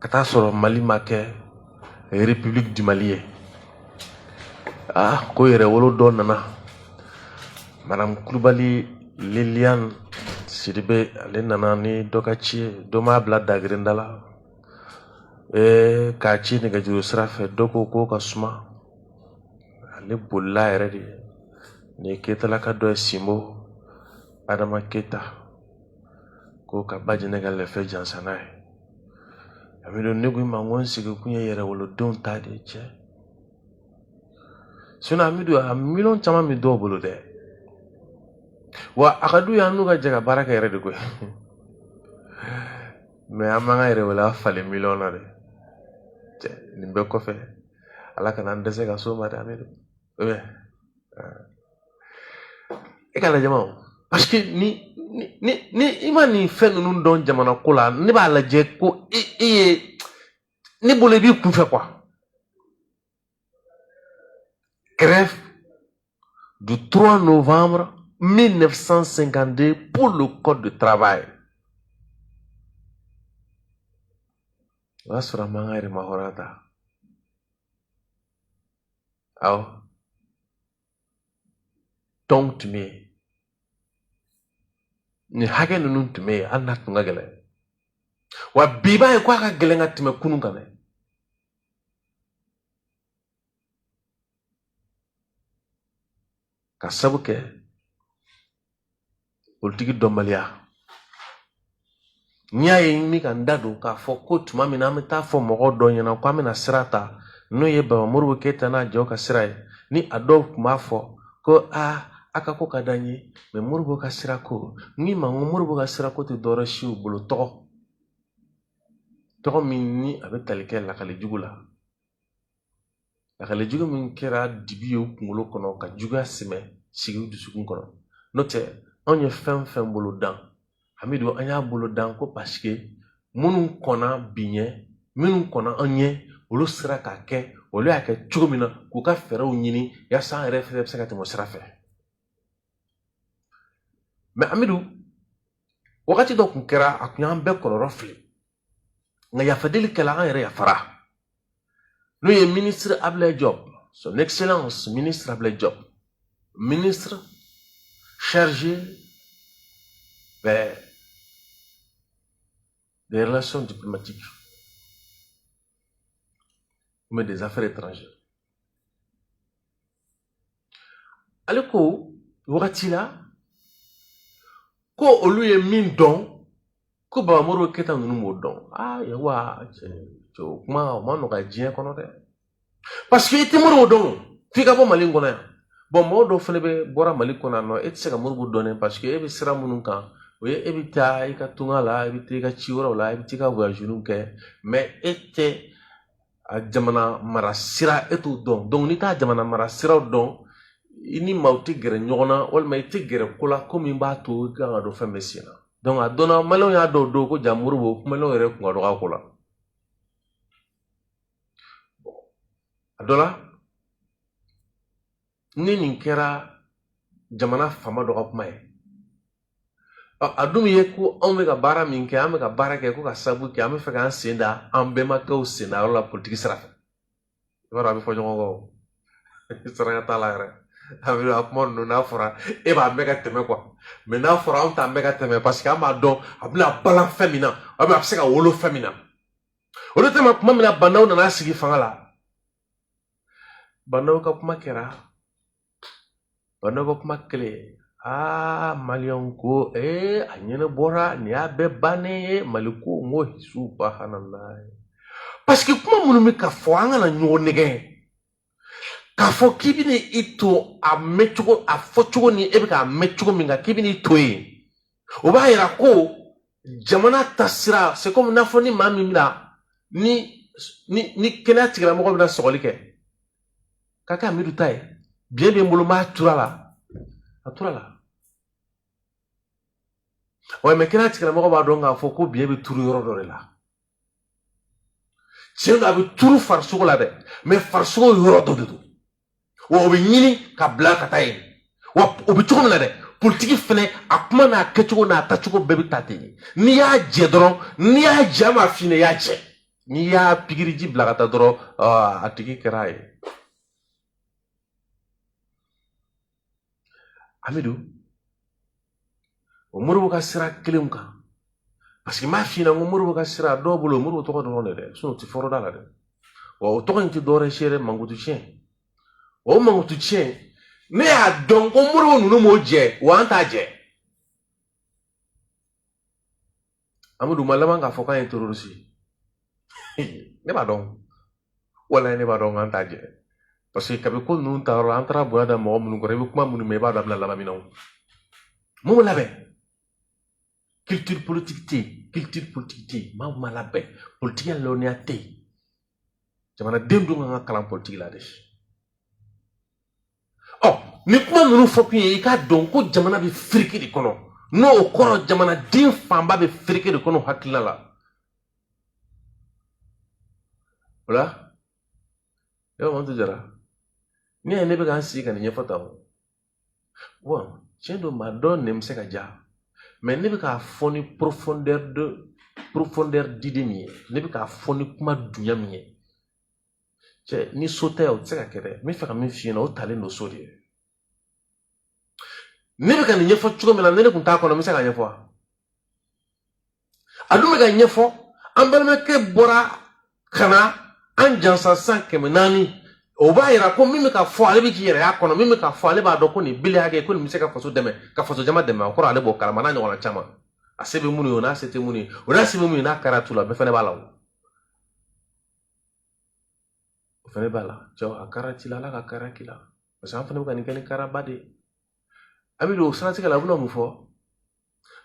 ka taa sɔrɔ mali ma kɛ république du mali ye ah ko yɛrɛwolo dɔ nana madame kulubali liliane sidibe ale nana ni dɔ ka ci ye dɔ m'a bila dagirenda la ee k'a ci nɛgɛjuru sira fɛ dɔ ko k'o ka suma ale bolila yɛrɛ de nin ye ketalaka dɔ ye sinbo adama keta ko ka ba jɛnɛ ka lɛfɛ jansa n'a ye amidu ne ko i ma ko n sigi kun ye yɛrɛwolodenw ta de ye cɛ sinɔn amidu a miliyɔn caman bɛ dɔw bolo dɛ wa a ka d'u ye an n'u ka jɛ ka baara kɛ yɛrɛ de koyi mɛ an m'an ka yɛrɛwoloya falen miliyɔn na dɛ nin bɛɛ kɔfɛ ala kana an dɛsɛ ka s'o ma dɛ amidu É. é. E k'a lajɛ o parce que ni ni ni i ma nin fɛn ninnu dɔn jamana ko la ne b'a lajɛ ko i i ye ne bolo i b'i kunfɛ quoi grève du 3 novembre 1952 pour le code de travail o y'a sɔrɔ an m'an ka yɛrɛmahɔrɔnya ta Oh, tɔnw tun bɛ yen nin hakɛ ninnu tun bɛ yen hali n'a tun ka gɛlɛn wa bi b'a ye ko a ka gɛlɛn ka tɛmɛ kunun kan dɛ k'a sabu kɛ politiki dɔnbaliya n'i y'a ye n bɛ ka n da don k'a fɔ ko tuma min na an bɛ taa fɔ mɔgɔw dɔ ɲɛna ko an bɛna sira ta n'o ye baba modibo keyita n'a jɛw ka sira ye ni a dɔw tun b'a fɔ ko aa a ka ko ka d'an ye mɛ modibo ka sira ko ni ma ko modibo ka sira ko tɛ dɔwɛrɛ siw bolo tɔgɔ tɔgɔ min ni a bɛ tali kɛ lakali jugu la lakali jugu min kɛra dibi ye u kunkolo kɔnɔ ka juguya sɛmɛ sigi u dusukun kɔnɔ n'o tɛ anw ye fɛn o fɛn boloda hamidu an y'a boloda ko paseke minnu kɔnna bi ɲɛ minnu kɔnna an ɲɛ olu sera k'a kɛ olu y'a kɛ cogo min na k'u ka fɛɛrɛw ɲini yaasa an yɛrɛ fɛnɛ bɛ se ka tɛmɛ o sira fɛ mɛ amidu wagati dɔ kun kɛra a kun y'an bɛɛ kɔnɔrɔ fili nga yafa deli kɛla an yɛrɛ yafara n'o ye ministre ablaye diop son excellence ministre ablaye diop ministre chargé ben, des relations diplomatiques mais des affaires étrangères ale ko wagati la ko olu ye min dɔn ko baba modibo keyita ninnu m'o dɔn aa yawa cɛ o kuma o ma nɔgɔya diɲɛ kɔnɔ dɛ paseke i tɛ modibo dɔn f'i ka bɔ mali kɔnɔ yan bɔn mɔgɔ dɔw fana bɛ bɔra mali kɔnɔ yan nɔ e tɛ se ka modibo dɔn dɛ paseke e bɛ sira minnu kan o ye e bɛ taa i ka tunga la i bɛ taa i ka ci wɛrɛw la i bɛ taa i ka voyage ninnu kɛ mɛ e tɛ a jamana mara sira e t'o dɔn donc n'i t'a jamana mara siraw dɔn i ni maaw tɛ gɛrɛ ɲɔgɔn na walima i tɛ gɛrɛ ko la ko min b'a to i kan ka don fɛn bɛɛ sen na donc a dɔnna maliyɛnw y'a dɔw dɔn ko jaa modibo maliyɛnw yɛrɛ kun ka dɔgɔ a ko la a dɔ la ni nin kɛra jamana fama dɔ ka kuma ye a dun ye ko anw bɛ ka baara min kɛ an bɛ ka baara kɛ ko ka sabu kɛ an bɛ fɛ k'an sen da an bɛnbakɛw sen da yɔrɔ la politiki sira fɛ i b'a dɔn a bɛ fɔ ɲɔgɔn kɔ saraka t'a la yɛrɛ a bɛ a kuma ninnu n'a fɔra e b'a mɛn ka tɛmɛ kuwa mɛ n'a fɔra anw t'a mɛn ka tɛmɛ paseke an b'a dɔn a bɛna bala fɛn min na a bɛ se ka wolo fɛn min na o de tɛmɛ kuma min na bandaw nana sigi fanga la bandaw ka kuma kɛra bandaw ka kuma kɛlen aa maliyɛnw ko ee a ɲɛnabɔra nin y'a bɛɛ bannen ye mali ko n ko hi subahanalayi paseke kuma minnu bɛ ka fɔ an kana ɲɔgɔn nɛgɛn k'a fɔ k'i bɛna i to a mɛncogo a fɔcogo ni e bɛ k'a mɛn cogo min kan k'i bɛna i to yen o b'a yira ko jamana ta sira se komi n'a fɔ ni maa min bɛna ni ni ni kɛnɛya tigilamɔgɔ bɛna sɔgɔli kɛ k'a kɛ a miiri ta ye biɲɛ bɛ n bolo n b'a tur'a la a tur'a la wa mɛ kɛnɛya tigilamɔgɔ b'a dɔn k'a fɔ ko biɲɛ bɛ turu yɔrɔ dɔ de la tiɲɛ don a bɛ turu farisogo la dɛ mɛ farisogo yɔrɔ dɔ de don wa o bɛ ɲini ka bila ka taa yen wa o bɛ cogo min na dɛ politiki fɛnɛ a kuma n'a kɛcogo n'a tacogo bɛɛ bɛ taa ten de n'i y'a jɛ dɔrɔn n'i y'a jɛ n b'a f'i ɲɛna i y'a jɛ n'i y'a pikiriji bila ka taa dɔrɔn a tigi kɛra a ye an bɛ don o modibo ka sira kelenw kan paseke n b'a f'i ɲɛna ko modibo ka sira dɔw bolo modibo tɔgɔ dɔrɔn de dɛ sinɔn o tɛ fɔra u da la dɛ wa o tɔgɔ in tɛ dɔwɛrɛ si yɛrɛ mankutu tiɲɛ o mankutu tiɲɛ ne y'a dɔn ko modibo ninnu m'o jɛ wa an t'a jɛ amadu ma laban k'a fɔ k'an ye tɛrɔrisi ye ne b'a dɔn walayi ne b'a dɔn k'an t'a jɛ paseke kabi ko ninnu ta yɔrɔ la an taara bonya da mɔgɔ minnu kɔrɔ i bɛ kuma minnu mɛn i b'a dɔn a bɛna laban min na o mun labɛn culture politique tɛ yen culture politique tɛ yen maa min ma labɛn politikiya lɔnniya tɛ yen jamanaden dun kan ka kalan politiki la de ɔ ni kuma ninnu fɔ kun ye i k'a dɔn ko jamana bɛ firiki de kɔnɔ n'o kɔrɔ jamanaden fanba bɛ firiki de kɔnɔ hakilila la o la mantu jara n'i y'a ye ne bɛ ka n sigi ka nin ɲɛfɔ tan wa tiɲɛ don maa dɔ nɛn bɛ se ka ja mais ne bɛ k'a fɔ ni profondeur de profondeur d'idée min ye ne bɛ k'a fɔ ni kuma dunya min ye cɛ ni so tɛ o tɛ se ka kɛ dɛ n bɛ fɛ ka min f'i ɲɛna o talen don so de ye ne bɛ ka nin ɲɛfɔ cogo min na ni ne tun t'a kɔnɔ n bɛ se k'a ɲɛfɔ wa a dun bɛ k'a ɲɛfɔ an balimakɛ bɔra ka na an jansa san kɛmɛ naani o b'a yira ko min bɛ ka fɔ ale bɛ k'i yɛrɛ y'a kɔnɔ min bɛ ka fɔ ale b'a dɔn ko nin bili hakɛ ko nin bɛ se ka faso dɛmɛ ka faso jama dɛmɛ o kɔrɔ ale b'o kalama n'a ɲɔgɔnna caman a se bɛ minnu ye o n'a se tɛ minnu ye o n'a se bɛ minnu ye n'a kɛra tu la bɛɛ fana b'a la o o fɛnɛ b'a la cɛw a kara ci la ala ka kara k'i la parce que an fana bɛ ka nin kɛ ni karaba de ye a bɛ don o siratigɛ la a bɛna mun fɔ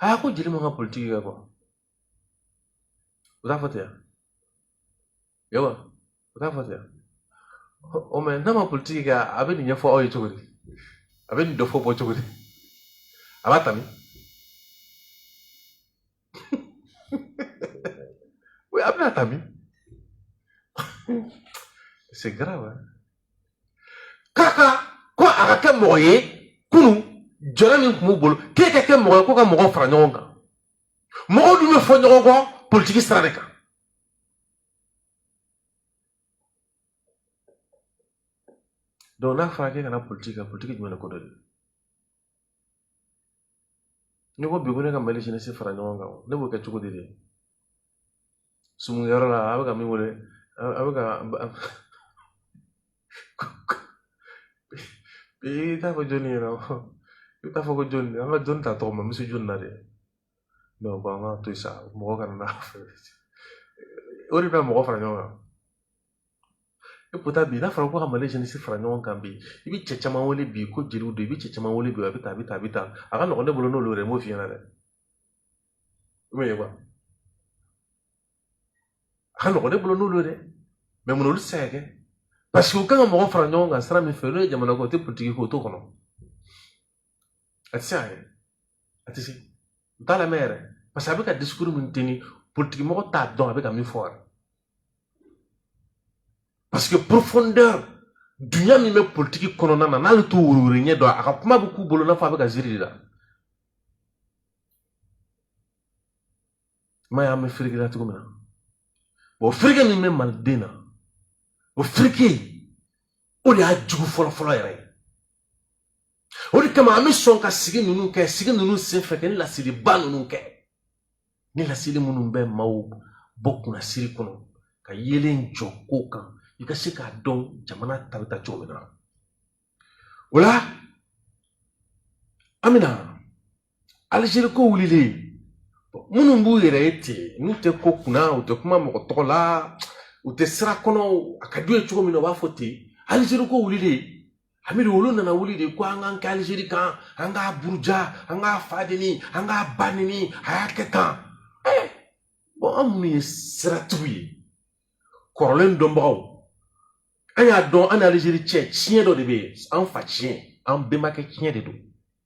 aa ko jeli man ka politiki kɛ quoi o t'a fɔ ten yan yawa o t'a fɔ ten yan o mais n'a ma politiki kɛ a bɛ nin ɲɛfɔ aw ye cogo di a bɛ nin dɔ fɔ bɔ cogo di a bɛ tami oui a bɛna tami c'est grave Kaka, ko a ka kɛ mɔgɔ ye kunun jɔyɔrɔ min tun b'u bolo k'e ka kɛ mɔgɔ ye ko ka mɔgɔw fara ɲɔgɔn kan mɔgɔw dun bɛ fɔ ɲɔgɔn kɔ politiki sira de kan donc n'a fɔra k'e kana politiki kɛ politiki jumɛn de ko don dɛ n'i ko bi ko ne ka mali jeunesse fara ɲɔgɔn kan ne b'o kɛ cogo di de sumukɛyɔrɔ la a bɛ ka min wele a bɛ ka i t'a fɔ jɔnni yɛrɛ i t'a fɔ ko jɔnni an ka jɔnni ta tɔgɔ ma n bɛ se jɔnni na de mais u ko an k'a to yen sa mɔgɔ kana n'a fɛ o de bɛ mɔgɔ fara ɲɔgɔn kan et pourtant bi n'a fɔra ko ka mali jeunesse fara ɲɔgɔn kan bi i bɛ cɛ caman wele bi ko jeliw don i bɛ cɛ caman wele bi a bɛ tan a bɛ tan a bɛ tan a ka nɔgɔn ne bolo n'olu ye dɛ n b'o f'i ɲɛna dɛ i b'a ye wa a ka nɔgɔn ne bolo n'olu ye dɛ mais mun olu tɛ se ka kɛ parce que u kan ka mɔgɔ fara ɲɔgɔn kan sira min fɛ n'o ye jamana ko o tɛ politiki ko o t'o kɔnɔ a tɛ se ayi a tɛ se u t'a lamɛn yɛrɛ parce que a bɛ ka discours min teni politikimɔgɔ t'a dɔn a bɛ ka min fɔ yɛrɛ parce que profondeur dunya min bɛ politiki kɔnɔna na n'ale t'o wɛrɛwɛrɛ ɲɛ dɔn a ka kuma bɛ k'u bolo n'a fɔ a bɛ ka ziiri de la i m'a y'an bɛ firiki la cogo min na o firiki min bɛ maliden na o firiki o de y'a jugu fɔlɔfɔlɔ yɛrɛ ye o de kama an bɛ sɔn ka sigi ninnu kɛ sigi ninnu senfɛ kɛ ni lasiriba ninnu kɛ ni lasiri minnu bɛ maaw bɔ kunnasiri kɔnɔ ka yeelen jɔ ko kan i ka se k'a dɔn jamana ta bɛ taa cogo min na o la an bɛna alizeri ko wulilen minnu b'u yɛrɛ ye ten n'u tɛ ko kunna u tɛ kuma mɔgɔ tɔgɔ la u tɛ sira kɔnɔ a ka d'u ye cogo min na u b'a fɔ ten alizeri ko wulilen amiri olu nana wuli de ko an k'an kɛ alizeri kan an k'a buruja an k'a fa neni an k'a ba neni a y'a kɛ tan eh, bɔn an minnu ye siratigiw ye kɔrɔlen dɔnbagaw an y'a dɔn an ni alizeri cɛ tiɲɛ dɔ de bɛ yen an fa tiɲɛ an bɛnbakɛ tiɲɛ de don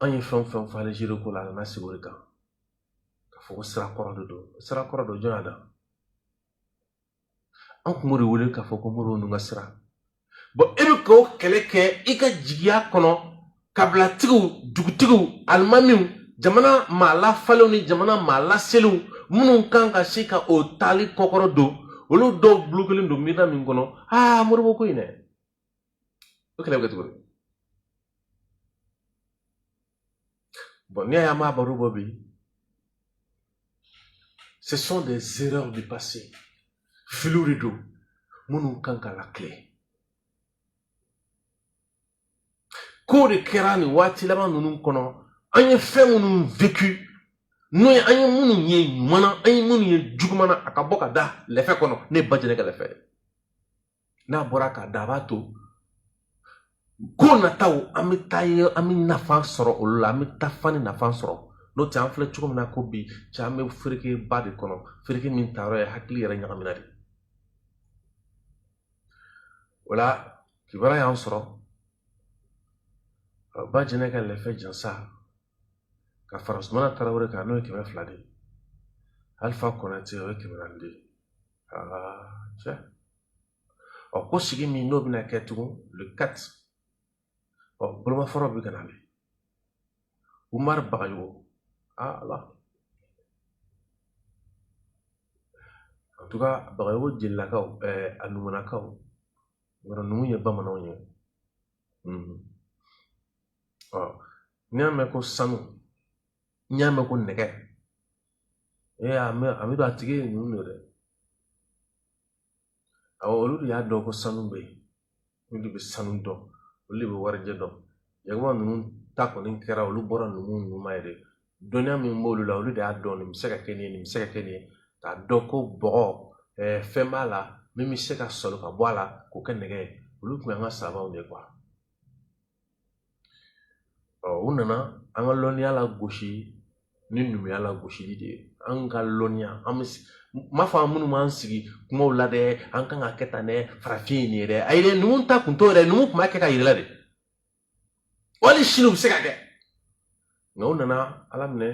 an ye fɛn fɛn fɔ alizeri ko la a nana sigi o de kan ka fɔ ko sira kɔrɔ de don sira kɔrɔ don jɔn y'a da an kun b'o de wele k'a fɔ ko modibo ninnu ka sira bɔn e bɛ k'o kɛlɛ kɛ i ka jigiya kɔnɔ kabilatigiw dugutigiw alimamiw jamana maa lafalenw ni jamana maa laselenw minnu kan ka se ka o taali kɔkɔrɔdon olu dɔw bulokelen don miirina min kɔnɔ aa modibo ko in dɛ o kɛlɛ bɛ kɛ cogo di bɔn ni a y'a mɛn baro bɔ bi ce sont des erreurs du passé filiw de don minnu kan ka lakile ko de kɛra nin waati laban ninnu kɔnɔ an ye fɛn minnu vécu n'o ye an ye minnu ye ɲuman na an ye minnu ye juguman na a ka bɔ ka da lɛfɛ kɔnɔ ne ba jɛnɛ ka lɛfɛ ye n'a bɔra k'a da a b'a to ko nataw an bɛ taa ye an bɛ nafa sɔrɔ olu la an bɛ taafan ni nafa sɔrɔ n'o tɛ an filɛ cogo min na ko bi cɛ an bɛ ferekeba de kɔnɔ fereke min taayɔrɔ ye hakili yɛrɛ ɲagamina de o la kibaruya y'an sɔrɔ ba jɛnɛ ka lɛfɛ jansa ka fara sumana tarawele kan n'o ye kɛmɛ fila de ye alifa konatɛ o ye kɛmɛ naani de ye cɛ ɔ ko sigi min n'o bɛna kɛ tugun le 4 ɔ bolomafara bɛ ka na le umari bagayogo aa ala en tout cas bagayogo jelilakaw ɛɛ eh, a numunakaw yɔrɔ numu ye bamananw ye mhm. ɔ n'i y'a mɛn ko sanu n'i y'a mɛn ko nɛgɛ e a mɛ a bɛ dɔn a tigi ye numu de dɛ awɔ olu de y'a dɔn ko sanu bɛ yen olu de bɛ sanu dɔn olu de bɛ warijɛ dɔn yakuba ninnu ta kɔni kɛra olu bɔra numu numu ma yɛrɛ dɔnniya min b'olu la olu de y'a dɔn nin bɛ se ka kɛ nin ye nin bɛ se ka kɛ nin ye k'a dɔn ko bɔgɔ ɛɛ fɛn b'a la min bɛ se ka sɔrɔ ka bɔ a la k'o kɛ nɛgɛ ye olu tun y'an ka sabaw de ye ɔ u nana an ka lɔnniya lagosi ni numuya lagosili de ye an ka lɔnniya an bɛ m'a fɔ an minnu b'an sigi kumaw la dɛ an kan ka kɛ tan dɛ farafin ye nin ye dɛ ayi dɛ numu ta kun t'o dɛ numu tun b'a kɛ k'a yira i la de wali sini u bɛ se ka kɛ nka u nana a laminɛ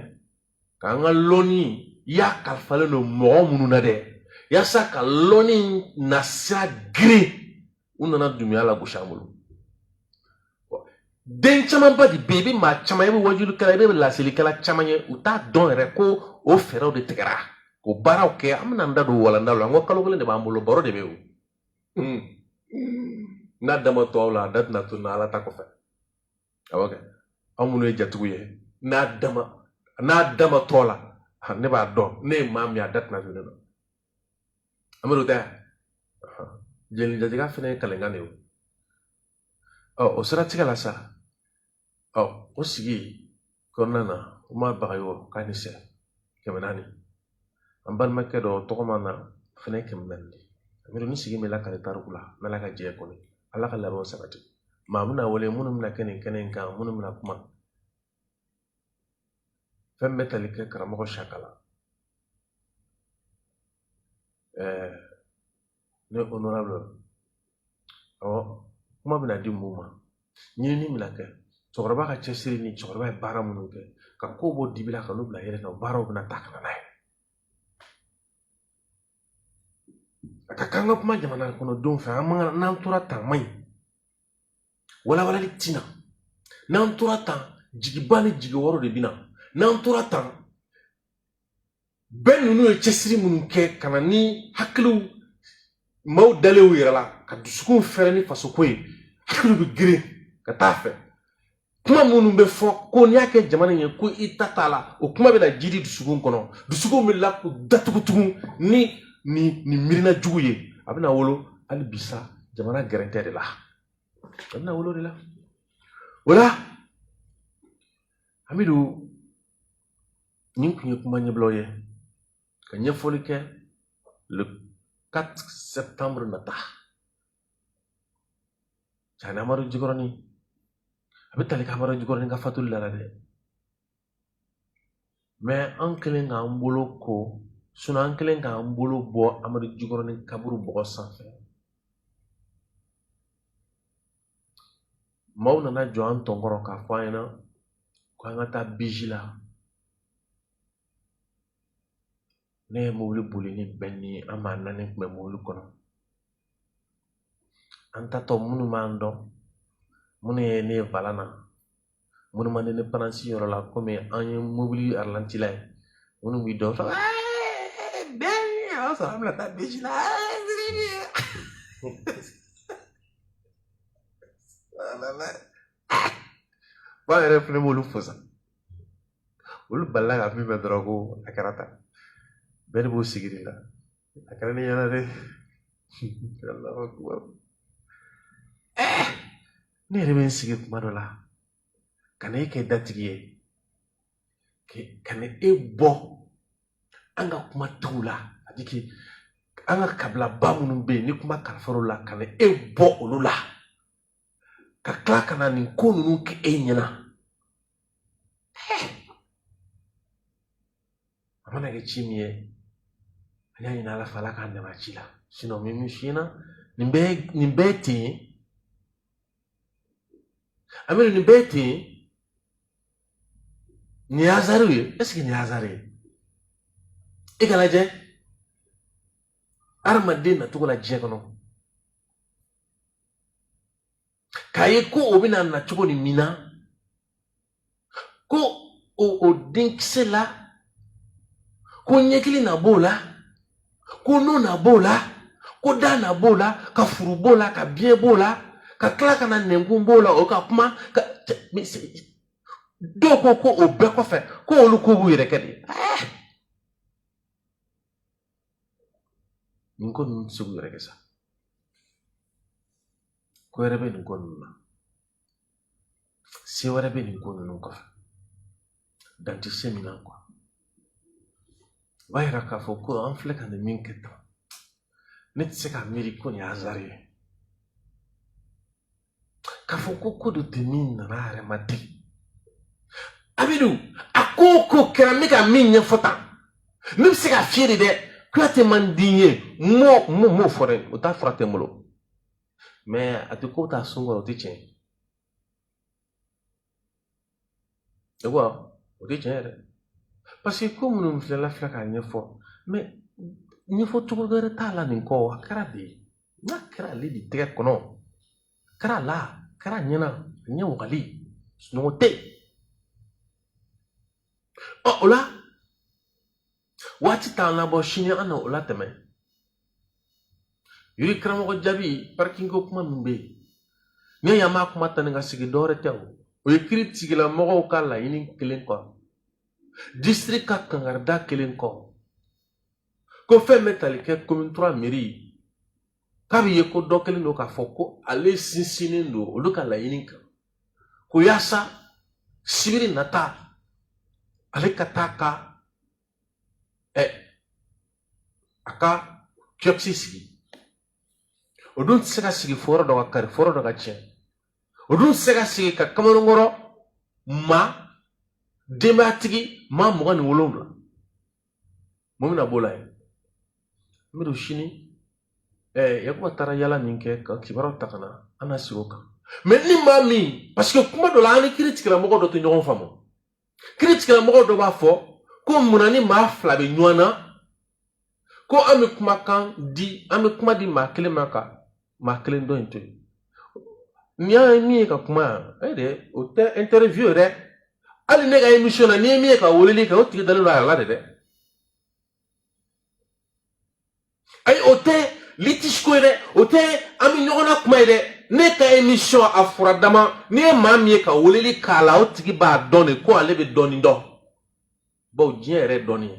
k'an ka lɔnni i y'a kalifalen don mɔgɔ minnu na dɛ yasa ka lɔnni nasira geren u nana numuya lagosi an bolo den camanba de bɛ yen i bɛ maa caman i bɛ wajulikɛla i bɛ lasilikɛla caman ye u t'a dɔn yɛrɛ ko o fɛɛrɛw de tigɛra k'o baaraw kɛ an bɛna an da don walanda la n ko kalo kelen de b'an bolo baro de bɛ yen o n'a dama tɔw la a da tɛna to na ala ta kɔfɛ awɔ kɛ anw minnu ye jatigiw ye n'a dama n'a dama tɔ la ne b'a dɔn ne ye maa min ye a da tɛna ne la an bɛ don da jeli jatigiya fana ye kalenkan de ye ɔ o siratigɛ la sa ɔ o sigi kɔnɔna na umar bagayogo k'a ni sɛ kɛmɛ naani an balimakɛ dɔ tɔgɔma na fɛnɛ kɛmɛ naani de amiru ni sigi min lakali tariku la n'ala ka jɛ kɔni ala ka labɛnw sabati maa bɛna wele minnu bɛna kɛ nin kɛnɛ in kan minnu bɛna kuma fɛn bɛ tali kɛ karamɔgɔ sakala ɛɛ ne honorable awɔ kuma bɛna di mun ma ɲinini bɛna kɛ cɛkɔrɔba ka cɛsiri ni cɛkɔrɔba ye baara minnu kɛ ka kow bɔ dibi la ka n'u bila yeelen na baaraw bɛna ta ka na n'a ye a ka kan ka kuma jamana kɔnɔdenw fɛ an man n'an tora tan man ɲi walawalali tina n'an tora tan jigiba ni jigiwaaro de bɛ na n'an tora tan bɛɛ ninnu ye cɛsiri minnu kɛ ka na ni hakiliw maaw dalen u yɛrɛ la ka dusukun fɛrɛ ni fasoko ye hakiliw bɛ geren ka taa fɛ kuma minnu bɛ fɔ ko n'i y'a kɛ jamana in ye ko i ta t'a la o kuma bɛna jiidi dusukun kɔnɔ dusukun bɛ la k'u datugu tugun ni nin nin miirina jugu ye a bɛna wolo hali bi sa jamana gɛrɛntɛ de la a bɛna wolo de la o la hamidu nin tun ye kuma ɲɛbilaw ye ka ɲɛfɔli kɛ le 4 septembre nata cani amadu jikɔrɔni a bɛ tali kɛ amadu jikɔrɔni ka fatuli la dɛ mɛ an kɛlen k'an bolo ko sinɔn an kɛlen k'an bolo bɔ amadu jikɔrɔni kaburu bɔgɔ sanfɛ maaw nana jɔ an tɔn kɔrɔ k'a fɔ an ɲɛna ko an ka taa biji la ne ye mobili boli ni bɛn ni an maa naani kun bɛ mobili kɔnɔ an tatɔ minnu b'an dɔn minnu ye ne ye volan na minnu man di ne paransi yɔrɔ la komi an ye mobili aralantila ye minnu b'i dɔn fɔ bɛɛ a b'a sɔrɔ an bɛna taa biji la ba yɛrɛ fɛnɛ b'olu fo sa olu balila ka min mɛn dɔrɔn ko a kɛra tan bɛɛ de b'o sigi de la a kɛra ne ɲɛna dɛ ne yɛrɛ bɛ n sigi kuma dɔ la ka na e kɛ datigi ye ka na e bɔ an ka kuma tigiw la ani ke an ka kabilaba minnu bɛ yen ni kuma kalifar'o la ka na e bɔ olu la ka tila ka na nin ko ninnu kɛ e ɲɛna a mana kɛ ci min ye an y'a ɲini ala fɛ ala k'an dɛmɛ a ci la sinɔn min min sin na nin bɛɛ ye ten amidu nin bɛɛ ye ten nin ye azariw ye ɛseke nin ye azari ye i k'a lajɛ hadamaden nacogo la diɲɛ kɔnɔ k'a ye ko o bɛna na cogo ni min na ko o o denkisɛ la ko ɲɛkili na b'o la ko nun na b'o la ko da na b'o la ka furu b'o la ka biɲɛ b'o la ka tila ka na nɛnkun b'o la o ka kuma dɔw ko ko o bɛɛ kɔfɛ ko olu ko b'u yɛrɛ kɛ de nin ko ninnu tɛ se k'u yɛrɛ kɛ sa ko wɛrɛ bɛ nin ko ninnu na se wɛrɛ bɛ nin ko ninnu kɔfɛ dan tɛ se min na kuwa o b'a yira k'a fɔ ko an filɛ ka nin min kɛ tan ne tɛ se k'a miiri ko nin ye azari ye k'a fɔ ko ko dɔ tɛ min nana a yɛrɛ ma ten amidu a ko o ko kɛra n bɛ ka min ɲɛfɔ tan ne bɛ se ka fiyɛ de dɛ kuyate man di n ye m'o m'o m'o fɔ dɛ o ta fura tɛ n bolo mɛ a tɛ ko t'a sun kɔrɔ o tɛ tiɲɛ ye E wa o tɛ tiɲɛ yɛrɛ parce que ko minnu filɛla filɛ k'a ɲɛfɔ mais ɲɛfɔ cogo wɛrɛ t'a la nin kɔ a kɛra de n'a kɛra ale de tɛgɛ kɔnɔ kɛra la kɛra ɲɛna ɲɛ wagali sunɔgɔ tɛ o la waati t'an labɔ sini an na o latɛmɛ rue Karamɔgɔ Jabi parking ko kuma min bɛ yen n'i y'an b'a kuma ta ni ka segin dɔwɛrɛ tɛ o o ye kiritigɛlamɔgɔw ka laɲini kɛlen kɔ district ka kankarida kɛlen kɔ ko fɛn bɛ tali kɛ commune trois mairie k'a bɛ ye ko dɔ kɛlen don k'a fɔ ko ale sinsinnen don olu ka laɲini kan ko yaasa sibiri nata ale ka taa ka ɛ a ka kiosque sigi o dun tɛ se ka sigi fo yɔrɔ dɔ ka kari fo yɔrɔ dɔ ka tiɲɛ o dun tɛ se ka sigi ka kamalenkɔrɔ maa denbayatigi maa mugan ni wolonwula mun bɛna b'o la yen n bɛ don sini ɛɛ Yakuba taara yaala min kɛ ka kibaruyaw ta ka na an na segin o kan mais ni maa min parce que kuma dɔ la an ni kiritigɛlamɔgɔ dɔ tɛ ɲɔgɔn faamu kiritigɛlamɔgɔ dɔ b'a fɔ ko munna ni maa fila bɛ ɲɔgɔn na ko an bɛ kumakan di an bɛ kuma di maa kelen ma ka maa kelen dɔ in to yen n'i y'a ye min ye ka kuma yan e de o tɛ interview ye dɛ hali ne ka émission na n'i ye min ye ka weleli kɛ o tigi dalen don a yɛrɛ la de dɛ ayi o tɛ litige ko ye dɛ o tɛ an bɛ ɲɔgɔn na kuma ye dɛ ne ka émission a fura dama n'i ye maa min ye ka weleli k'a la o tigi b'a dɔn de ko ale bɛ dɔɔnin dɔn. baw diɲɛ yɛrɛ dɔɔnin ye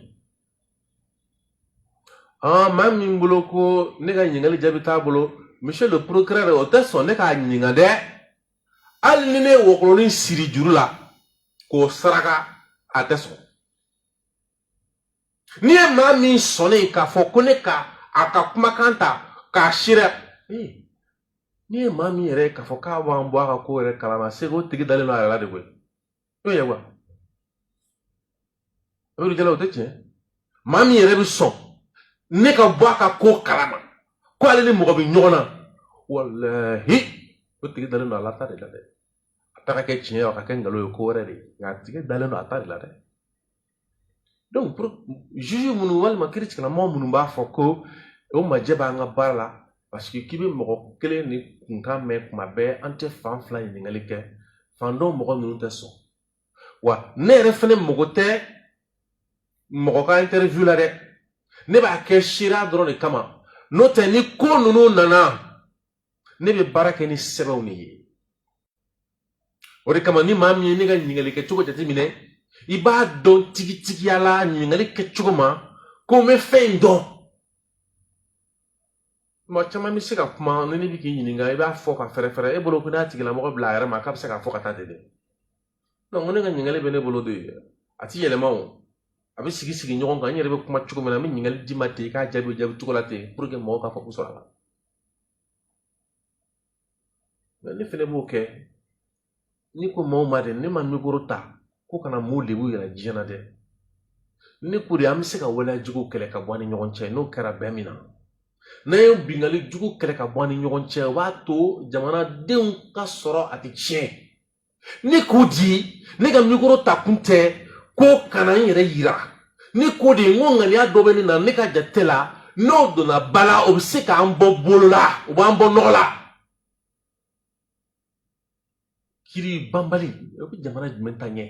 maa min bolo ko ne ka ɲininkali jaabi t'a bolo monsieur le procureur o tɛ sɔn ne k'a ɲininka dɛ hali ni ne ye wɔkɔlɔnin siri juru la k'o saraka a tɛ sɔn n'i ye maa min sɔnnen k'a fɔ ko ne ka a ka kumakan ta k'a sira n'i ye maa min yɛrɛ k'a fɔ k'a b'an bɔ a ka ko yɛrɛ kalama c'est que o tigi dalen don a yɛrɛ la de koyi n'o ye wa o de kɛla o tɛ tiɲɛ maa min yɛrɛ bɛ sɔn ne ka bɔ a ka ko kalama ko ale ni mɔgɔ bɛ ɲɔgɔn na walahi o tigi dalen don ale ta de la dɛ a ta ka kɛ tiɲɛ ye a ka kɛ nkalon ye ko wɛrɛ de ye nka a tigi dalen don a ta de la dɛ donc juge minnu walima kiritigɛlamɔgɔ minnu b'a fɔ ko o majɛ b'an ka baara la parce que k'i bɛ mɔgɔ kelennin kunkan mɛn kuma bɛɛ an tɛ fan fila ɲininkali kɛ fan dɔ mɔgɔ ninnu tɛ sɔn wa ne yɛrɛ fɛnɛ mago tɛ mɔgɔ ka interview la dɛ ne b'a kɛ seereya dɔrɔn de kama n'o tɛ ni ko ninnu nana ne bɛ baara kɛ ni sɛbɛnw de ye o de kama ni maa min ye ne ka ɲininkali kɛ cogo jateminɛ i b'a dɔn tigitigiya la ɲininkali kɛ cogo ma ko n bɛ fɛn dɔn maa caman bɛ se ka kuma ni ne bɛ k'i ɲininka i b'a fɔ ka fɛrɛfɛrɛ e bolo ko n'a tigilamɔgɔ bila a yɛrɛ ma k'a bɛ se k'a fɔ ka taa ten dɛ ko ne ka ɲininkali bɛ ne bolo de ye a ti yɛlɛma o a bɛ sigi sigi ɲɔgɔn kan n yɛrɛ bɛ kuma cogo min na n bɛ ɲininkali d'i ma ten i k'a jaabi o jaabi cogo la ten mɔgɔw k'a fɔ ko sɔrɔ a la ne fɛnɛ b'o kɛ ni ko maaw ma dɛ ne ma mikoro ta ko ka na mɔgɔ lebu yira diɲɛ na dɛ ne ko di an bɛ se ka waleya jugu kɛlɛ ka bɔ an ni ɲɔgɔn cɛ n'o kɛra bɛn min na n'an ye bingali jugu kɛlɛ ka bɔ an ni ɲɔgɔn cɛ o b'a to jamanadenw ka sɔrɔ a tɛ tiɲɛ ne ko di ne ka mikoro ta kun tɛ ko ka na n yɛrɛ yira ne ko di n ko ŋaniya dɔ bɛ ne na ne ka jate la n'o donna ba la o bɛ se k'an bɔ bolo la o b'an bɔ nɔgɔ la kiri banbali o bɛ jamana jumɛn ta ɲɛ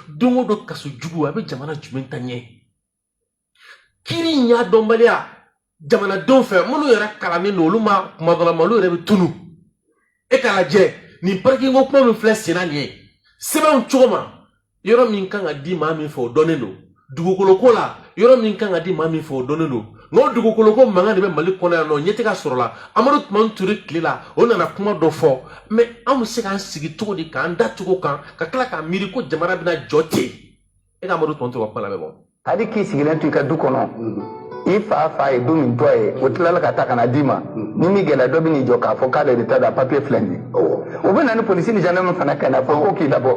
don o don kaso jugu a bɛ jamana jumɛn ta ɲɛ kiri ɲɛdɔnbaliya jamanadenw fɛ minnu yɛrɛ kalannen don olu ma kuma dɔ lamɛn olu yɛrɛ bɛ tunu e k'a lajɛ nin parikinko kuma min filɛ senna nin ye sɛbɛnw cogo ma yɔrɔ min kan ka di maa min fɛ o dɔnnen don dugukolo ko la yɔrɔ min kan ka di maa min fɛ o dɔnnen don nka o dugukolo ko mankan de bɛ mali kɔnɔ yan nɔ ɲɛ tɛ ka sɔrɔ la amadu tumani ture tile la o nana kuma dɔ fɔ mɛ an bɛ se k'an sigi cogo di k'an da togo kan ka tila k'a miiri ko jamana bɛna jɔ ten e ka amadu tumani ture ka kuma lamɛn bon hali k'i sigilen to i ka du kɔnɔ i fa fa ye du min to i ye o tilala k'a ta ka n'a d'i ma ni min kɛra dɔ bɛ n'i jɔ k'a fɔ k'ale de ta don a papiye filɛ nin ye o bɛ na ni polisi ni zandarmu fana ka n'a fɔ ko k'i labɔ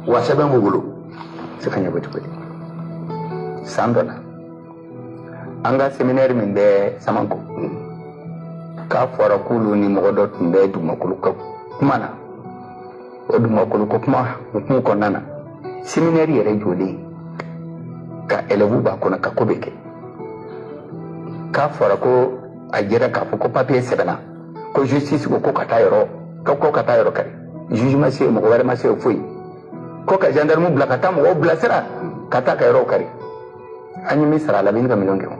wa sɛbɛn b'u bolo se ka ɲɛnabɔ cogo di san dɔ la an ka seminɛri min bɛ samanko k'a fɔra k'olu ni mɔgɔ dɔ tun bɛ dugumakolo ko kuma na o dugumakolo ko kuma hukumu kɔnɔna na seminɛri yɛrɛ jɔlen ka élèves b'a kɔnɔ ka ko bɛɛ kɛ k'a fɔra ko a jɛra k'a fɔ ko papiye sɛbɛnna ko justice ko ko ka taa yɔrɔ ko ka taa yɔrɔ kari juge ma se yen mɔgɔ wɛrɛ ma se yen foyi ko ka gendarme bila ka taa mɔgɔw bilasira ka taa ka yɔrɔw kari an ye min sara a la bɛ ɲini ka miliyɔn kɛ o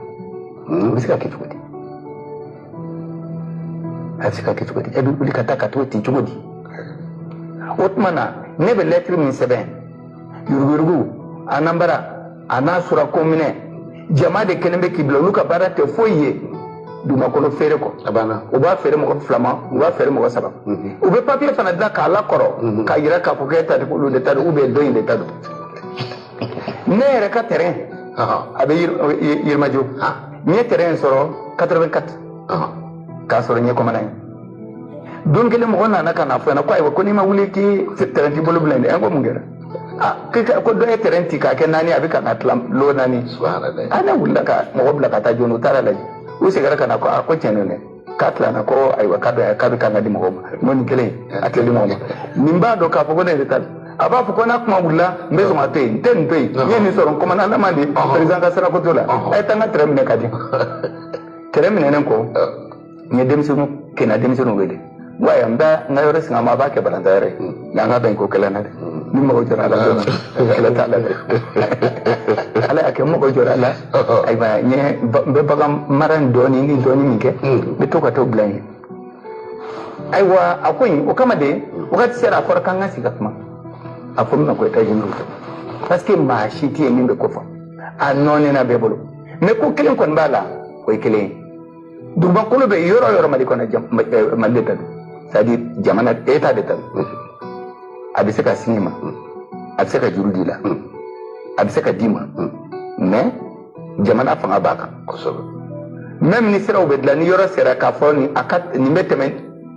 hmm. bɛ se ka kɛ cogo di a bɛ se ka kɛ cogo di e bɛ wuli ka taa ka t'o ten cogo di o tuma na ne bɛ lɛtiri min sɛbɛn yuruguyurugu anambara a n'a sɔrɔ komini jama de kɛlen bɛ k'i bila olu ka baara tɛ foyi ye dugumakolo feere kɔ a banna u b'a feere mɔgɔ fila ma u b'a feere mɔgɔ saba mhm. u bɛ papiye fana dilan k'a lakɔrɔ mhm. k'a yira k'a fɔ k'e ta tɛ k'olu de ta don ou bien dɔ in de ta don ne yɛrɛ ka tɛrɛn a bɛ yirimajo n ye tɛrɛn sɔrɔ quatre-vingt-quatre k'a sɔrɔ n ye kɔmandan ye don kelen mɔgɔ nana ka na fɔ n ɲɛna ko ayiwa ko n'i ma wuli k'i tɛrɛn t'i bolo bilen dɛ an ko mun kɛra ko dɔ ye tɛrɛn tigɛ k'a kɛ naani a bɛ ka k'a tila lo naani a ne wulila ka mɔgɔ bila ka taa joona u taara lajɛ u seginna ka na ko a ko tiɲɛ don dɛ k'a tilanna ko ayiwa k'a bɛ k'a bɛ kan ka di mɔgɔw ma n'o nin kelen a tɛ di mɔgɔ ma nin b'a dɔn k'a fɔ ko ne yɛrɛ ta don a b'a fɔ ko n'a kuma wulila n bɛ sɔn ka to yen n tɛ nin to yen n ye nin sɔrɔ n kɔmandan n'a ma di perezidan ka sira ko t'o la a ye taa n ka tɛrɛn minɛ ka di tɛrɛn minɛnen kɔ n ye denmisɛnninw kin na denmisɛnninw wele n ko ayiwa n bɛ n ka yɔrɔ singa aw ma a b'a kɛ balɔntan yɔrɔ ye nka an ka bɛn ko kelen na dɛ ni n mako jɔra a la dɔrɔn kɛlɛ t'a la dɛ ala y'a kɛ n mako jɔra a la ayiwa n ye ba- n bɛ bagan mara in dɔɔni ni dɔɔni min kɛ n bɛ to ka t'o bila yen ayiwa a ko in o kama de wagati sera a fɔra k'an ka sigi ka kuma a kunna ko états généraux parce que maa si tɛ yen min bɛ ko fɔ a nɔɔni na bɛɛ bolo mais ko kelen kɔni b'a la o ye kelen ye dugumakolo bɛ yɔrɔ yɔrɔ mali kɔnɔ eh, mali de ta don c'est à dire jamana état de ta don a bɛ se k'a singa i ma a bɛ se k'a juru don i la a bɛ se k'a di i ma mais jamana fanga b'a kan kosɛbɛ même ni siraw bɛ dilan ni yɔrɔ sera k'a fɔ nin a ka nin bɛ tɛmɛ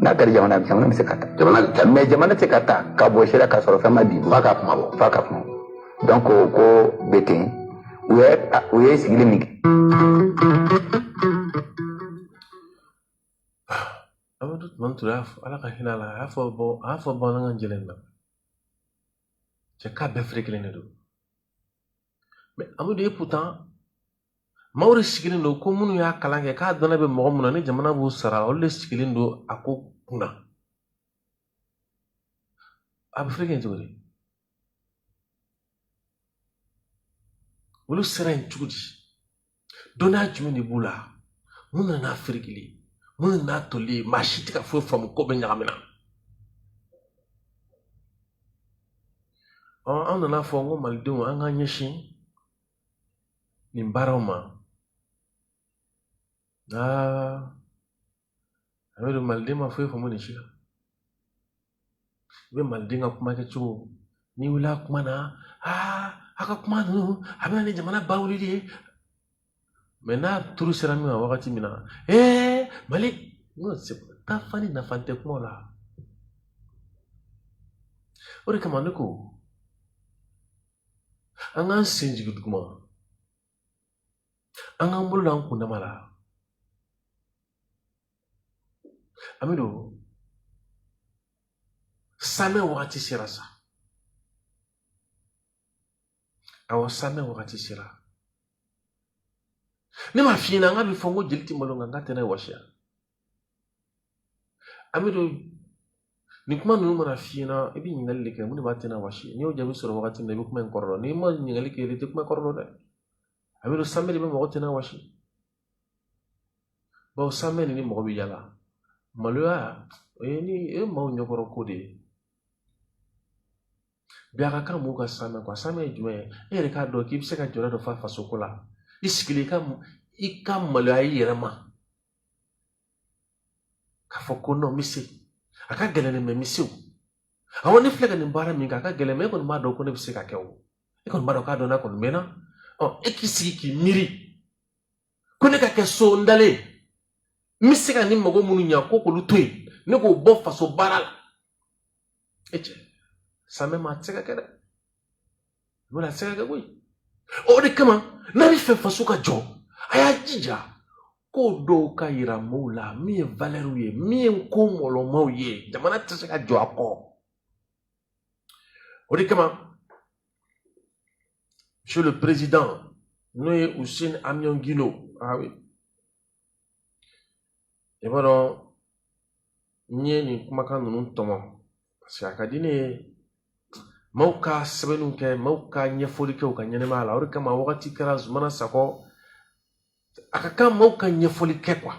n'a kɛra jamana ye jamana bɛ se k'a ta jamana bɛ ta mais jamana tɛ ka ta ka bɔ sira ka sɔrɔ fɛn ma di f'a ka kuma bɔ f'a ka kuma donc o ko bɛ ten u ye u ye sigili min kɛ. amadu tumani ture ala ka hinɛ a la a y'a fɔ bɔ a y'a fɔ bamanankan jɛlen na cɛ k'a bɛɛ ferekelen de don mais an bɛ don et pourtant maaw de sigilen don ko minnu y'a kalan kɛ k'a dɔnniya bɛ mɔgɔ minnu na ni jamana b'u sara olu de sigilen don a ko kunna a bɛ fereke cogo di olu sera yen cogo di dɔnniya jumɛn de b'u la mun nana n'a ferekeli mun nana n'a toli maa si tɛ ka foyi faamu ko bɛ ɲagami na ɔ an nana fɔ n ko malidenw an k'an ɲɛsin nin baaraw ma aa aw y'a dɔn maliden ma foyi faamu nin si la i bɛ maliden ka kuma kɛ cogo n'i wulila a kuma na aa a ka kuma ninnu a bɛ na ni jamana bawuli de ye mɛ n'a turu sera min ma wagati min na ee mali taa fa ni nafantan kuma la o de kama ne ko an k'an sen jigin duguma an k'an bolo da an kundama la an b'a dɔn samɛ wagati sera sa awa samɛ wagati sera ne m'a f'i ɲɛna nka a bɛ fɔ ko jeli tɛ malo nka nk'a tenda wasi a an b'a dɔn nin kuma ninnu mana f'i ɲɛna i bɛ ɲininkali de kɛ mun de b'a tenda wasi n'i y'o jaabi sɔrɔ wagati min na i bɛ kuma in kɔrɔ dɔn n'i ma ɲininkali kɛ i tɛ kuma kɔrɔ dɔn dɛ a b'a dɔn samɛ de bɛ mɔgɔ tenda wasi bawo samɛ de ni mɔgɔ b'i yɛrɛ lamaloya o ye ni o ye maaw ɲɛkɔrɔ ko de ye bi a ka kan mɔgɔw ka samɛ kuwa samɛ ye jumɛn ye e yɛrɛ k'a dɔn k'i bɛ se ka jɔyɔrɔ dɔ fa fasoko la i sigilen i ka i ka maloya i yɛrɛ ma k'a fɔ ko non n bɛ se a ka gɛlɛn nin mɛ n bɛ se o awɔ ne filɛ ka nin baara min kɛ a ka gɛlɛn mɛ e kɔni b'a dɔn ko ne bɛ se ka kɛ o e kɔni b'a dɔn k'a dɔn n'a kɔni mɛnna ɔ e k'i sigi k'i miiri ko ne ka kɛ so n dalen n bɛ se ka ne mago minnu ɲa ko k'olu to yen ne k'o bɔ faso baara la e cɛ samɛ ma a tɛ se ka kɛ dɛ wala a tɛ se ka kɛ koyi o de kama n'a bɛ fɛ faso ka jɔ a y'a jija ko dɔw ka yira maaw la min ye valɛriw ye min ye ko mɔlɔmaw ye jamana tɛ se ka jɔ a kɔ o de kama monsieur le président n'o ye useni amiɔn gindo ah oui i b'a dɔn n ye nin kumakan ninnu tɔmɔ parce que a ka di ne ye maaw ka sɛbɛnni kɛ maaw ka ɲɛfɔli kɛ u ka ɲɛnɛmaya la o de kama wagati kɛra zumana sakɔ a ka kan maaw ka ɲɛfɔli kɛ kuwa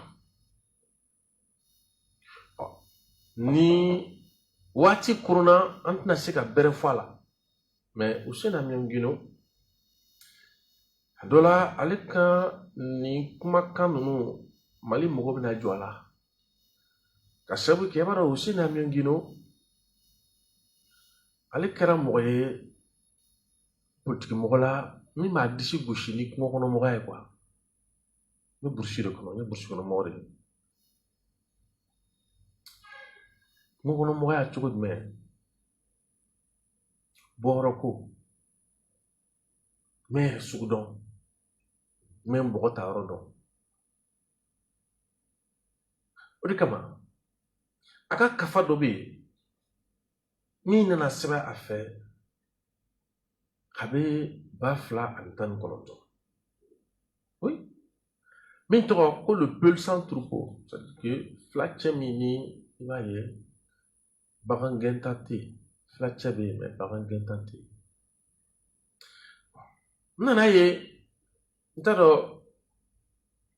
ni waati kurunna an tɛna se ka bɛrɛ fɔ a la mɛ useni amiɔn gindo a dɔ la ale ka nin kumakan ninnu mali mɔgɔ bɛna jɔ a la k'a sabu kɛ b'a dɔn useni amiɔn gindo ale kɛra mɔgɔ ye politikimɔgɔ la min b'a disi gosi ni kungokɔnɔmɔgɔya ye kuwa n bɛ burusi de kɔnɔ n ye burusi kɔnɔ mɔgɔ de ye Kungo kɔnɔ mɔgɔya cogo jumɛn bɔyɔrɔ ko jumɛn sugu dɔn u bɛ mɔgɔ taayɔrɔ dɔn o de kama a ka kafa dɔ bɛ yen min nana sɛbɛn a fɛ kabini ba fila ani tan ni kɔnɔntɔn min tɔgɔ ko le peul sans troupeau filacɛ min ni i b'a ye bagan gɛnta tɛ yen filacɛ bɛ yen mais bagan gɛnta tɛ yen n nana ye n t'a dɔn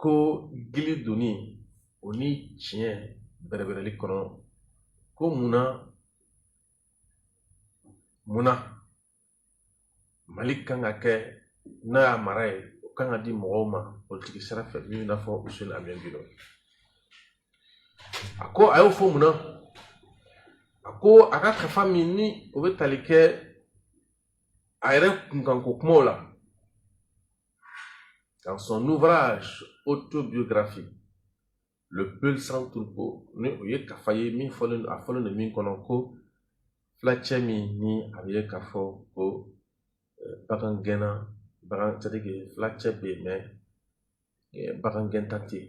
ko gili donni o ni tiɲɛ bɛrɛbɛrɛli kɔnɔ ko munna munna mali kan ka kɛ n'a y'a mara ye o kan ka di mɔgɔw ma politiki sira fɛ min b'i n'a fɔ Useni Amiyɔn Gindo a ko a y'o fɔ munna a ko a ka kafa min ni o bɛ tali kɛ a yɛrɛ kunkanko kumaw la dans son ouvrage autobiographique le peul sans troupeau ni o ye kafa ye min fɔlen a fɔlen don min kɔnɔ ko filacɛ min ni a bɛ ye k'a fɔ ko eh, bagan gɛnna bagan c'est à dire que filacɛ bɛ yen mais eh, bagan gɛnta tɛ yen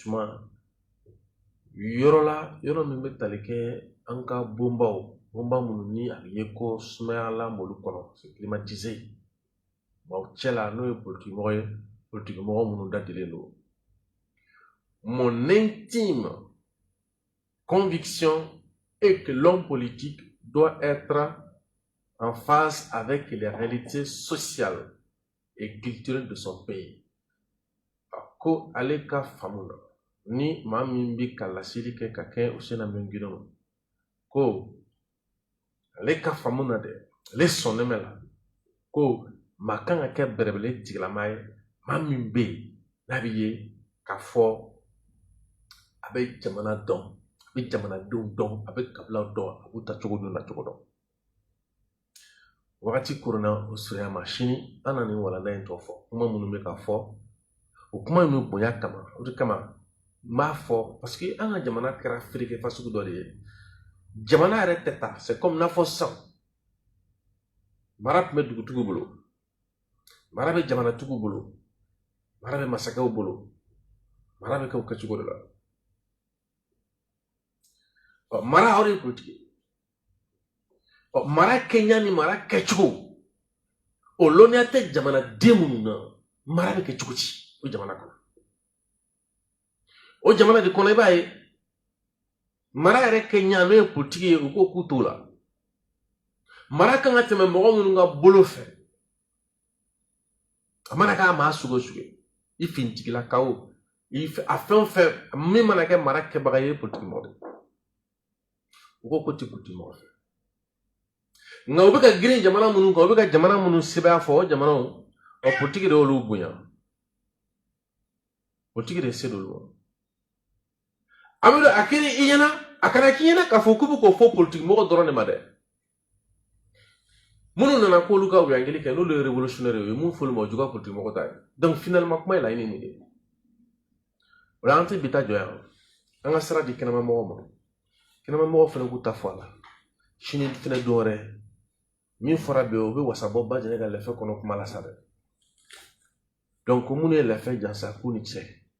suma yɔrɔ la yɔrɔ min bɛ tali kɛ an ka bonbaw bonba minnu ni a bɛ ye ko sumayalan b'olu kɔnɔ c'est climatisé maaw cɛ la n'o ye politikimɔgɔ ye politikimɔgɔ minnu dadilen don mon intime conviction est que l'homme politique doit être en phase avec les réalités sociales et culturelles de son pays a ko ale ka faamu na ni maa min bɛ ka laseli kɛ ka kɛ Useni Amiyɔn Gindo ma ko ale ka faamu na dɛ ale sɔnnen b'a la ko maa kan ka kɛ bɛrɛbɛrɛ tigilama ye maa min bɛ yen n'a bɛ ye k'a fɔ a bɛ jamana dɔn a bɛ jamanadenw dɔn a bɛ kabilaw dɔn a b'u taacogo dɔn nacogo dɔn wagati koronna o surunya ma sini an na nin walanda in tɔ fɔ kuma minnu bɛ ka fɔ o kuma in bɛɛ bonya kama o de kama n b'a fɔ parce que an ka jamana kɛra fereke fasugu dɔ de ye jamana yɛrɛ tɛ taa c'est comme n'a fɔ sisan mara tun bɛ dugutigiw bolo mara bɛ jamanatigiw bolo mara bɛ masakɛw bolo mara bɛ kɛ o kɛcogo de la ɔ mara aw de ye politiki ye ɔ mara kɛɲa ni mara kɛcogo o lɔnniya tɛ jamanaden minnu na mara bɛ kɛ cogo di o jamana kɔnɔ o jamana de kɔnɔ i b'a ye mara yɛrɛ kɛɲa n'o ye politiki ye u ko k'u t'o la mara kan ka tɛmɛ mɔgɔ minnu ka bolo fɛ a mana kɛ maa sugu o sugu ye fintigilakaw a fɛn o fɛn min mana kɛ mara kɛbaga ye politikimɔgɔ de u ko k'u ti politikimɔgɔ fɛ nka u bɛ ka girin jamana minnu kan u bɛ ka jamana minnu sebaaya fɔ o jamanaw ɔ politiki de y'olu bonya politiki de se d'olu ma amidu a kɛra i ɲɛna a kana k'i ɲɛna k'a fɔ k'u bɛ k'o fɔ politiki mɔgɔ dɔrɔn de ma dɛ minnu nana k'olu ka wuyangeli kɛ n'olu ye revolutionnaire ye mun fɔli ma o juguya politiki mɔgɔ ta ye donc finalement kuma ye laɲini nin de ye o la an tɛ bi ta jɔ yan an ka sira di kɛnɛma mɔgɔw ma kɛnɛma mɔgɔw fana k'u ta fɔ a la sini fana don wɛrɛ min fɔra bi o bɛ wasa bɔ ba jɛnɛ ka lɛfɛ kɔnɔ kuma la sa dɛ donc ko minnu ye lɛfɛ jansa k'u ni ce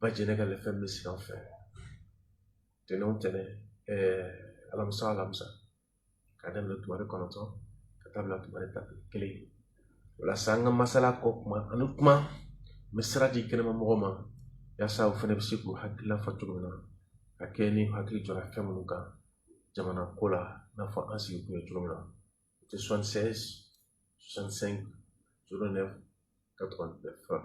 ba jɛnɛ ka lɛfɛ bɛ sigi an fɛ tɛnɛn o tɛnɛn alamisa o alamisa ka daminɛ tumare kɔnɔntɔn ka taa bila tumare tan ni kelen walasa an ka masala kɔ kuma ani kuma n bɛ sira di kɛnɛma mɔgɔw ma yaasa u fana bɛ se k'u hakilila fɔ cogo min na ka kɛ ni hakili jɔra fɛn minnu kan jamana ko la i n'a fɔ an sigi kun ye cogo min na o tɛ soixante seize soixante cinq zero neuf quatre vingt neuf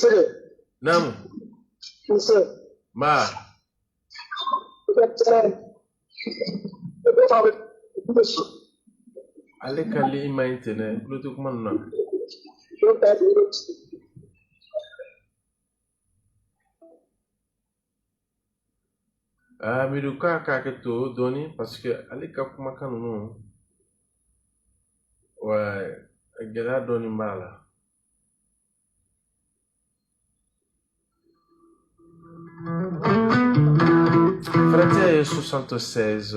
Sule. Naamu. Nse. Nba. Ale ka ligne man ɲi ten dɛ, n tulo tɛ kuma ninnu na. Ah, amidu k'a k'a kɛto dɔɔni paseke ale ka kumakan ninnu wa gɛlɛya dɔɔni b'a la Frate 76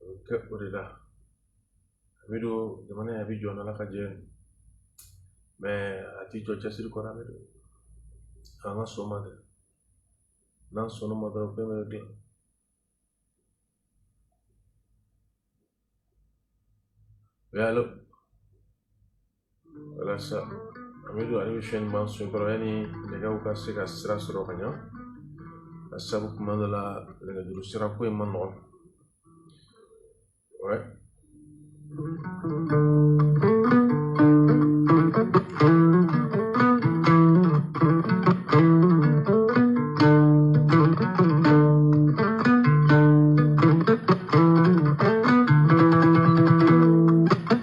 o bɛ kɛ o de la amidu jamana in a bɛ jɔ n'ala ka jɛ mais a tɛ jɔ cɛsiri kɔrɔ amidu an ka sɔn ma dɛ n'an sɔnna ma dɔrɔn fɛn bɛɛ bɛ dilan allô walasa Amidu ale bɛ fɛn ɲuman sɔrɔ kɔrɔ yanni nɛgɛw ka se ka sira sɔrɔ ka ɲa sabu tuma dɔ la nɛgɛjuru sira ko in man nɔgɔn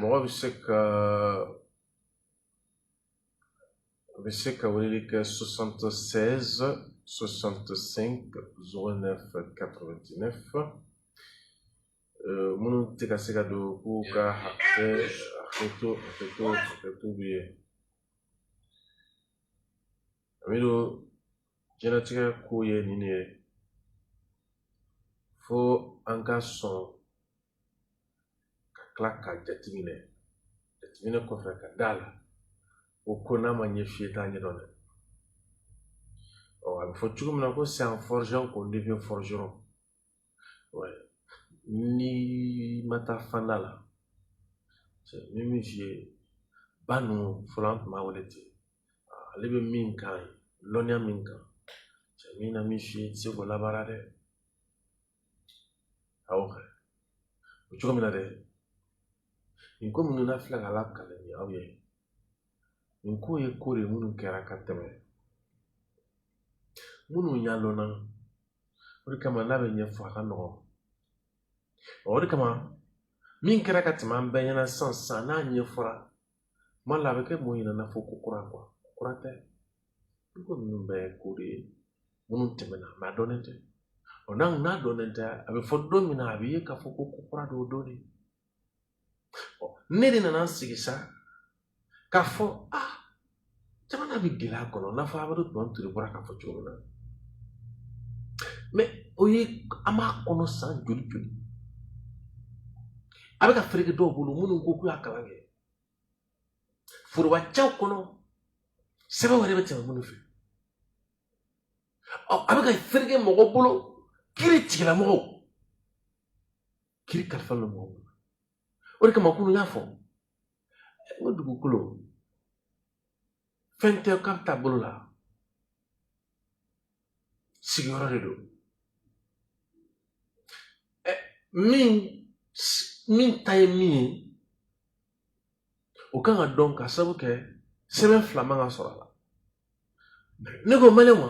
Mɔgɔ bɛ se ka a bɛ se ka weleli kɛ 76 65 09 89 minnu tɛ ka se ka don k'u ka hakɛto b'u ye Amidu diɲɛlatigɛ ko ye nin de ye fo an ka sɔn ka tila k'a jateminɛ jateminɛ kɔfɛ ka d'a la ko ko n'a ma ɲɛf'i ye i t'a ɲɛdɔn dɛ ɔ a bɛ fɔ cogo min na ko c'est en forgeant qu'on devient forgeron ouais. n'i ma taa fanda la cɛ bɛ min f'i ye ba ninnu fɔlɔ an tun b'a wele ten ale bɛ min kan lɔnniya min kan cɛ mana min f'i ye i tɛ se k'o labaara dɛ A bɛ fɔ cogo min na dɛ nin ko minnu na filɛ ka lakali aw ye nin ko ye ko de minnu kɛra ka tɛmɛ minnu ɲɛdɔnna o de kama n'a bɛ ɲɛfɔ a ka nɔgɔn o de kama min kɛra ka tɛmɛ an bɛɛ ɲɛna sisan n'a ɲɛfɔra tuma la a bɛ kɛ mɔgɔ ɲɛna n'a fɔ ko kura quoi ko kura tɛ dɛ ko ninnu bɛɛ ye ko de ye minnu tɛmɛna mais a dɔnnen tɛ ɔ n'a n'a dɔnnen tɛ a bɛ fɔ don min na a bɛ ye k'a fɔ ko ko kura don o don de ɔ ne de nana n sigi sa k'a fɔ aa jamana bɛ gɛlɛya kɔnɔ n'a fɔ Amadu Tumani Ture bɔra k'a fɔ cogo min na mais o ye an b'a kɔnɔ san joli joli a bɛ ka fereke dɔw bolo minnu ko k'u y'a kalan kɛ foroba cɛw kɔnɔ sɛbɛn wɛrɛ bɛ tɛmɛ minnu fɛ ɔ a bɛ ka fereke mɔgɔ bolo kiritigɛla mɔgɔw kiri kalifara u ma o de kama kunun n y'a fɔ n ko dugukolo fɛn tɛ k'a bɛ ta bolo la sigiyɔrɔ de don min min ta ye min ye o kan ka dɔn ka sabu kɛ sɛbɛn fila man ka sɔrɔ a la ne ko mali ma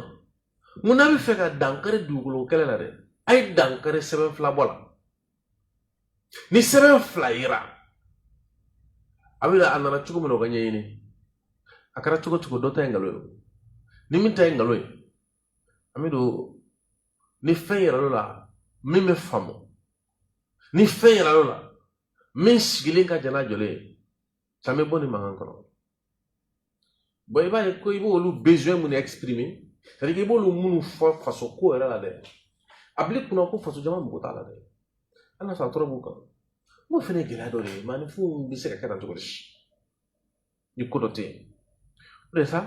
n ko n'a bɛ fɛ ka dankari dugukolo kɛlɛ la dɛ a ye dankari sɛbɛn fila bɔ la ni sɛbɛn fila yera a bolo a nana cogo min na o ka ɲɛɲini a kɛra cogo o cogo dɔ ta ye nkalon ye ni min ta ye nkalon ye an b'o dɔn ni fɛn yirala min bɛ faamu ni fɛn yirala min sigilen ka jan n'a jɔlen ye caman bɛ bɔ nin mankan kɔnɔ bon i b'a ye ko i b'olu besoin minnu exprimer c'est à dire i b'olu minnu fɔ faso ko yɛrɛ la dɛ a bil'i kun na ko faso jama mako t'a la dɛ a n'a sɔrɔ a tɔɔrɔ b'u kan n'o fɛnɛ ye gɛlɛya dɔ de ye maaninfinw bɛ se ka kɛ tan cogo di ni ko dɔ tɛ yen o de sa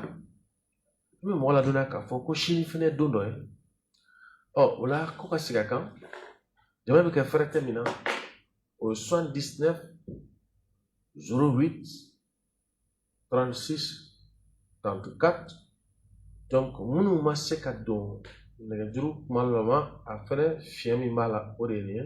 I bɛ mɔgɔ ladɔnniya k'a fɔ ko sini fɛnɛ don dɔ ye ɔ o la ko ka sigi a kan jama bɛ kɛ fɛɛrɛ tɛ min na au soixante-dix-neuf zéro huit trente-six trente-quatre donc minnu ma se ka don nɛgɛjuru kuma laban a fɛnɛ fiɲɛ min b'a la o de ye nin ye